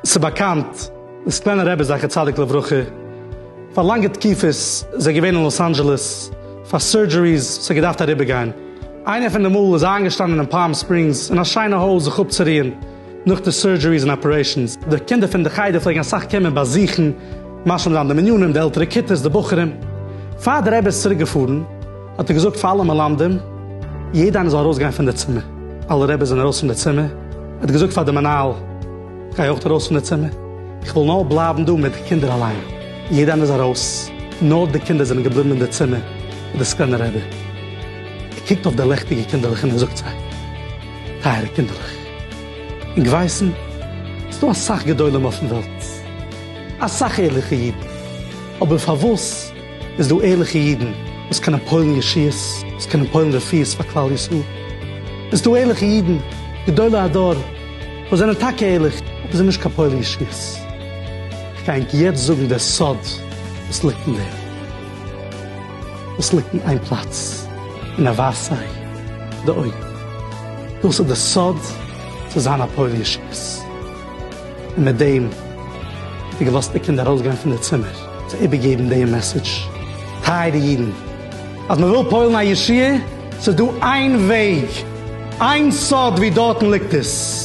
ס'איז באקאנט, די סקלענער רבי זכר צדיק לברכה, פאר לאנגע תקופות איז ער געווען אין לאס אנדזשעלעס פאר סורדזשעריס, ס'האט געדארפט אריבערגיין. איינע פון די מאל איז ער איינגעשטאנען אין פאלם ספרינגס אין א שיינע הויז זיך אפצוריען, נאך די סורדזשעריס און אפערעישאנס, די קינדער פון די חדר פלעגן אסאך קומען באזוכן, משלים זיין די מנינים, די עלטערע כיתות, די בחורים. פאר דער רבי איז צוריק געפארן, האט ער געזאגט פאר אלע מלמדים, יעדע איינער זאל ארויס גיין פון די צימער. אלע רעביס זענען ארויס פון די צימער, ער האט געזאגט פאר די מנהל, גיי אויך ארויס פון די צימער, איך וויל נאר בלייבן דא מיט די קינדער אליין. יעדע איינער איז ארויס, נאר די קינדער זענען געבליבן אין די צימער מיט די סקלענע רבי. ער קוקט אויף די לעכטיגע קינדערלעך און ער זאגט זיי, טייערע קינדערלעך. און געווייסן, ס'איז דא אסאך גדולים אויפן וועלט, אסאך ערליכע אידן, אבער פארוואס איז דא ערליכע אידן וואס קענען פועל'ן ישועות, וואס קענען פועל'ן רפואות פאר כלל ישראל, און ס'איז דא ערליכע אידן, גדולי הדור, וואס זענען טאקע ערליך, אבער זענען נישט קיין פועלי ישועות? כ'גיי ענק יעצט זאגן דער סוד וואס ליגט אין דעם. וואס ליגט אין איין פלאץ און ער ווייזט זיי די אויגן, דאס איז די סוד צו זיין א פועל ישועות, און מיט דעם האט ער געלאזט די קינדער ארויסגיין פון די צימער צו איבערגעבן דעם מעסעדזש, טייערע אידן, אז מען וויל פועל'ן א ישועה, ס'איז דא איין וועג, איין סוד ווי דארטן ליגט עס.